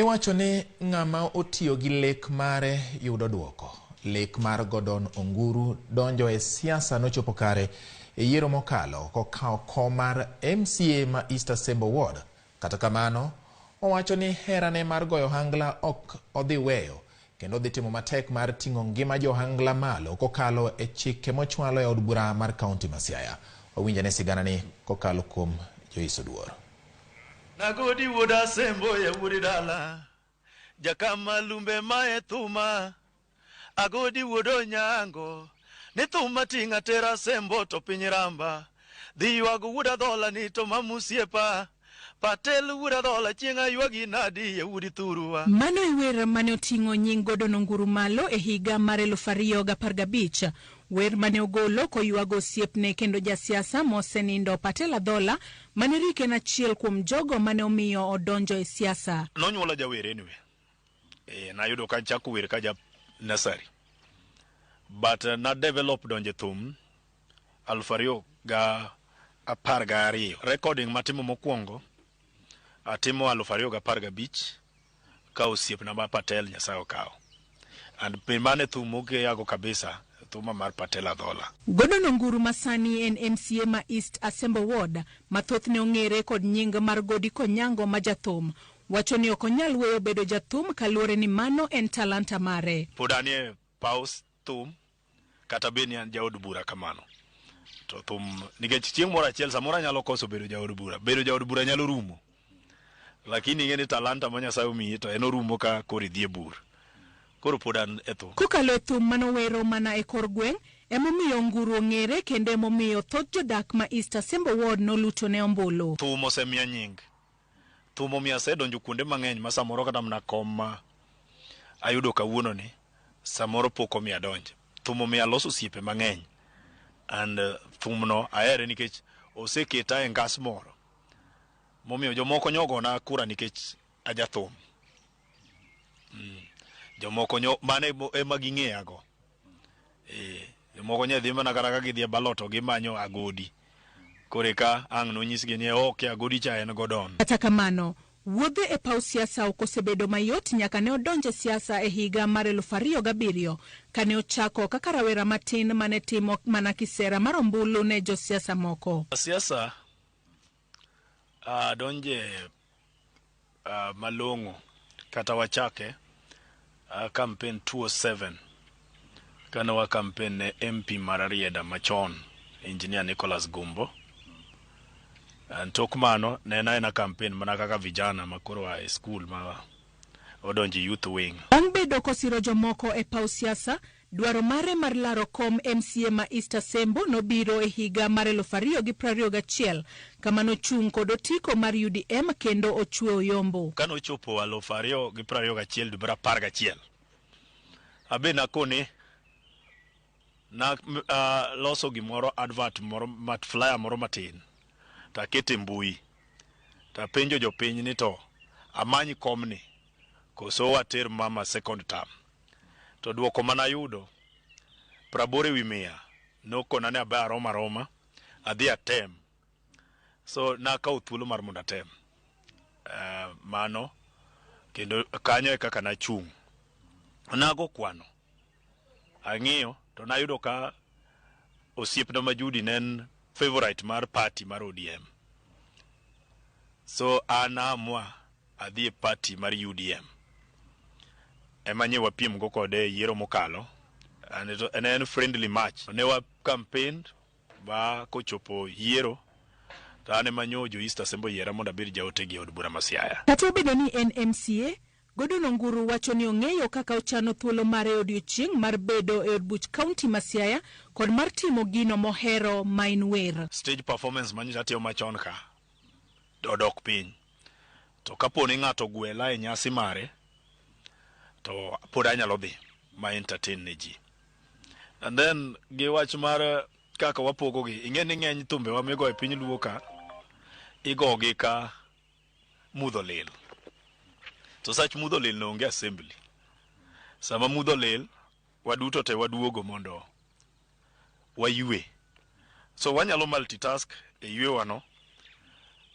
Iwacho ni ng'ama otiyo gi lek mare yudo dwoko. Lek mar Godon Onguru donjo e siasa nochopo kare e yiero mokalo kokawo kom mar MCA ma East Asembo Ward. Kata kamano, owacho ni herane mar goyo ohangla ok odhi weyo kendo odhi timo matek mar ting'o ngima jo ohangla malo kokalo e chike mochwalo e od bura mar kaunti ma Siaya. Wawinjane siganani kokalo kuom Joyce Oduor. Nagodi wuod Asembo ya wuod dala, Jakama lumbe mae thuma, Agodi wuod Onyango ni thuma ting'a tera Asembo to piny ramba, dhi ywago wuod Adhola ni to mam osiepa, Patel wuod Adhola chieng' aywagi nadi ya wuod Thurwa. Mano e wer mane oting'o nying Godon Onguru malo e higa mar eluf ariyo gapar gabich. Wer mane ogolo koywago osiepne kendo ja siasa mosenindo Patel Adhola Manerik en achiel kuom jogo mane omiyo odonjo e siasa. Nonyuola jawer anyway. Eh, nayudo ka chako wer ka ja nursery. But uh, na develop donje thum aluf ariyo ga apar ga ariyo. Recording matimo mokwongo atimo aluf ariyo ga apar ga bich. ka osiepna ma Patel Nyasaye okawo. And be mano e thum mokeyago kabisa, thuma mar Patel Adhola. Gordon Onguru ma sani en MCA ma East Asembo Ward, ma thothne ong'ere kod nying mar Godi Konyango ma jathum, wacho ni ok onyal weyo bedo jathum kaluore ni mano en talanta mare. Pod anie paw thum kata bed ni an jaod bura kamano to thum nikech chieng' moro achiel samoro anyalo koso bedo jaod bura bedo jaod bura nyalo rumo lakini ing'e ni talanta ma nyasaye omiyi to en orumo ka koro idhi e bur koro pod an e thum Kokalo e thum ma nowero mana e kor gweng', emomiyo Nguru ong'ere kendo emomiyo thoth jodak ma East Asembo Ward nolutone ombulu. thum osemiya nying Thum omiyo asedonjo kuonde mang'eny ma samoro kata mana kom ma ayudo kawuono ni samoro pok omiyo adonje. Thum omiyo aloso osiepe mang'eny and uh, thum no ahere nikech oseketa e ngas moro momiyo jomoko nyogona kura nikech ajathum. Mm. Jomoko nyo mane ema ging'eyago. eh jomoko nya dhi mana kata ka gidhi e ballot to gimanyo agodi kore ka ang' nonyisgi ni ok e agodi cha en godon Kata kamano, wuodhe e paw siasa ok osebedo mayot nyaka ne odonj e siasa e higa mar 2007 kane ochako kaka rawera matin mane timo mana kisera mar ombulu ne josiasa moko. siasa Uh, donje uh, malong'o kata wachake uh, campaign 27 kane wa campaign ne MP mar Arieda machon engineer Nicholas Gumbo uh, tok mano ne en aena campaign mana kaka vijana makoro a e school ma odonje youth wing. Bang' bedo kosiro jomoko e paw siasa, Dwaro mare mar laro kom MCA ma East Asembo nobiro e higa mar eluf ariyo gi prariyo gachiel kama nochung' kod otiko mar UDM kendo ochwe oyombo. Ka nochopo aluf ariyo gi prariyo gachiel dwe mar apar gachiel, abe nakone na loso gimoro advert moro mat flyer moro matin takete mbui tapenjo jopiny ni to amany komni koso water mama second term. To dwoko ma nayudo, praboro e wi mia, nokona ni aba arom aroma adhi atem. So nakawo thuolo mar mondo atem mano kendo kanyo e kaka nachung'. Nago kwano, ang'iyo to nayudo ka osiepna ma Judy ne en favourite mar party mar ODM. So an a amua adhi e party mar UDM ema nye wapiem go kode e yiero mokalo and it, and en friendly match ne wa campaign ba kochopo yiero to an ema nyo jo East Assembly yiera mondo abed jaote gi od bura ma Siaya. Kata obedo ni en MCA, Godon Onguru wacho ni ong'eyo kaka ochano thuolo mare e odiechieng' mar bedo e od buch kaunti ma Siaya kod mar timo gino mohero maen wer. Stage performance manyocha atimo machon ka odok piny. To kapo ni ng'ato ogwela e nyasi mare to pod anyalo dhi ma entertain ne ji. And then gi wach mar kaka wapogogi, ing'e ni ng'eny thumbewa migo e piny luo ka igogi ka mudho lil. To sach mudho lil ne onge assembly. Sama mudho lil, waduto te waduogo mondo waywe. So wanyalo multitask e ywewano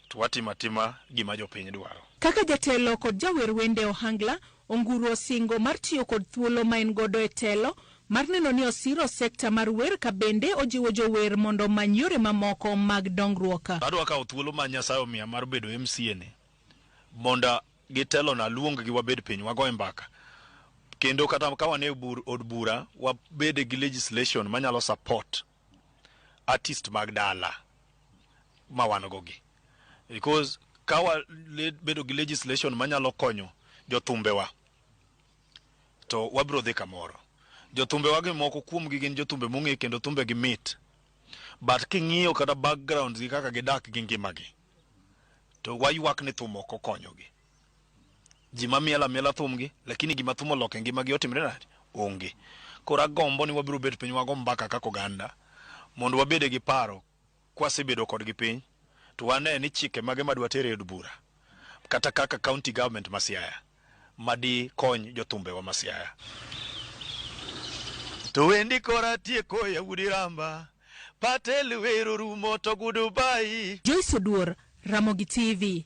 to watimo atima gima jopiny dwaro. Kaka jatelo kod jawer wende e ohangla, Onguru osingo mar tiyo kod thuolo ma en godo e telo mar neno ni osiro sekta mar wer ka bende ojiwo jower mondo omany yore mamoko mag dongruok. Adwa kawo thuolo ma Nyasaye omiya mar bedo MCA ni mondo gitelona aluonggi wabed piny wagoe mbaka kendo kata ka wan e bur, od bura wabede gi legislation manyalo support artist mag dala ma wan go gi because ka wabedo gi legislation manyalo konyo jothumbewa to wabiro dhi kamoro jothumbewa gi moko kuomgi gin jothumbe mong'e kendo thumbegi mit but king'iyo kata backgrounds gi kaka gidak gi ngimagi to waywak ni thum ok okonyogi ji mamiel amiela thumgi lakini gima thum oloko e ngimagi otimre nade onge koro agombo ni wabiro bet piny wago mbaka kaka oganda mondo wabede gi paro kwasebedo kodgi piny to wane ni chike mage madwa tere e od bura kata kaka county government ma Siaya ma di kony jothumbe wa ma Siaya. To wendi kora tieko ya udi ramba, patel wero rumo to gudu bayi. Joyce Oduor, Ramogi TV.